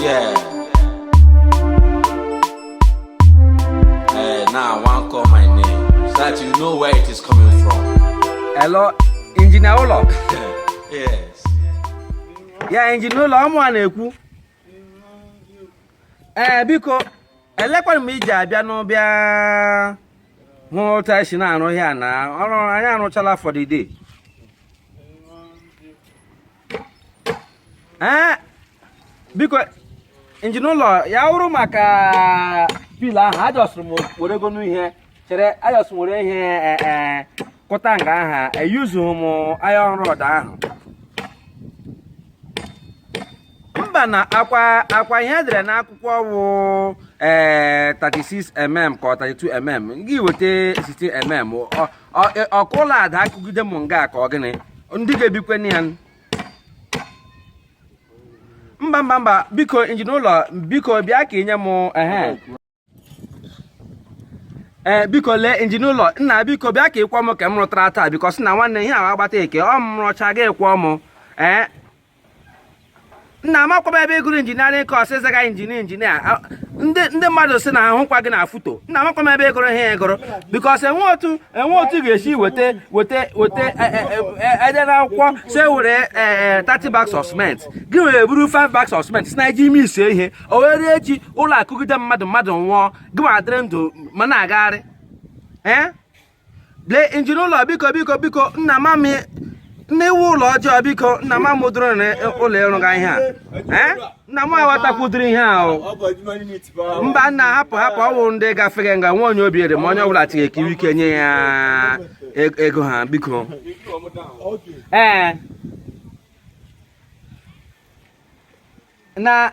Yeah. Eh, now I want call my name so that you know where it is coming from. Hello, injinia ụlọ. yes. Ya injinia ụlọ ọ mụwa na-ekwu. Ee eh, biko elekwana m iji abịa nụ bịa hụ otu anyị si na-arụ ihe a na ọrụ anyị arụchala for the day. ee biko injinia ụlọ ya wụrụ maka pila ahụ ajọsụrụ m were gonụ ihe chere ajọsụrụ were ihe e, e, kụta nga aha eyuzughị m iron rod ahụ mba nụ ọkwa ọkwa ihe edere n'akwụkwọ wụ ee 36 mm ka ọ 32 mm gị weta 16 mm e, ọ ka ụlọ adaa kụgide m nga ka ọ gịnị ndị ga-ebikwe na ya mba mba mba biko injinia ụlọ biko bịa ka inye m ehe ee eh, biko lee injinia ụlọ nna biko bịa ka ị kwụọ m nke m rụtara taa biko sị na nwanne ihe ahụ agbata eke ọ m rụcha gị kwụọ m ee eh, nna amakwa m ebe ịgụrụ injiniarịn kọs ịzaga injinia injinia ndị mmadụ si na ahụkwa gị na foto nna amakwa m ebe ịgụrụ ihe ịgụrụ bikọs enwe otu enwe otu ga-esi weta weta weta e, e, e, edere n'akwụkwọ si were 30 bags of cement gị were buru 5 bags of cement si na iji emesi ihe o were echi ụlọ akụgide mmadụ mmadụ nwụọ gị ma adịrị ndụ ma na-agagharị ee lee injinia ụlọ biko biko biko nna ama m na iwu ụlọ ọjọọ biko nna ama m ụdịrị ụlọ ịrụga ihe a nna m aghọtakwudiri ihe ahụ mba nna hapụ hapụ ọwụ ndị gafere nga nwa onye obi ebere ma onye ọbụla tinye ekiri ike nye ya e-, ego ha biko ee na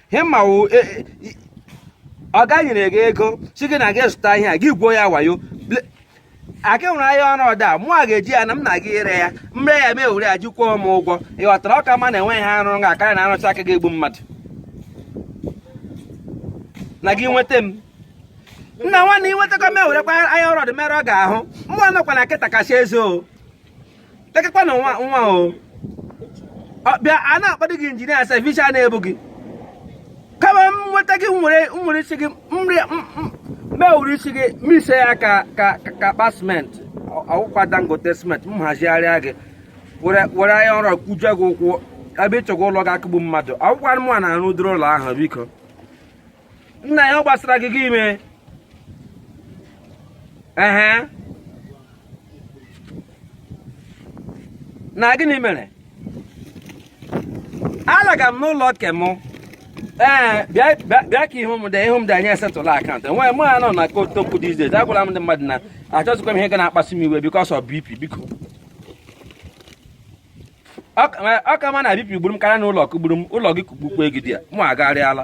ihe m ma wụ e, e, ọga nyere gị ego si gị na gị zụta ihe a gị gwuo ya wayo ka e were iron rod mụ a ga-eji ya na m na gị ire ya m ree ya m were ya ji kwụọ m ụgwọ ị ghọtara ọ ka mma na enweghị ihe arụrụ ga karịa na arụcha nke ga-egbu mmadụ na gị nweta m nna nwanne ị nwetakwa m ewerekwa iron rod mere ọga ahụ mụ anọkwa na kịta kasị eze o lekakwa na nwa nwa o bịa a na-akpọdị gị injinia sef isi a na-ebu gị ka m nweta gị were were isi gị m were isi gị mise ya ka ka akpa siment ọwụkwa dangote siment m hazigharịa gị were iron rod kụjie gị ụkwụ ebe ịchọgwa ụlọ ga-akụgbu mmadụ ọwụkwanụ mụwa na-arụ ụdịrị ụlọ ahụ biko nna ya ọ gbasara gị gị ime ehe na gịnị mere alaga m n'ụlọ nke m ee bịa ka ihu m dị ihu m dị anyị settle account enweghị mụ ya nọ na kotokwu these days agwala m ndị mmadụ na achọzikwa m ihe ga na-akpasu m iwe because of BP biko ọ ka mma na BP gburu m karịa na ụlọ kụgburu m ụlọ gị kụgbukwa gị there mụ agharịala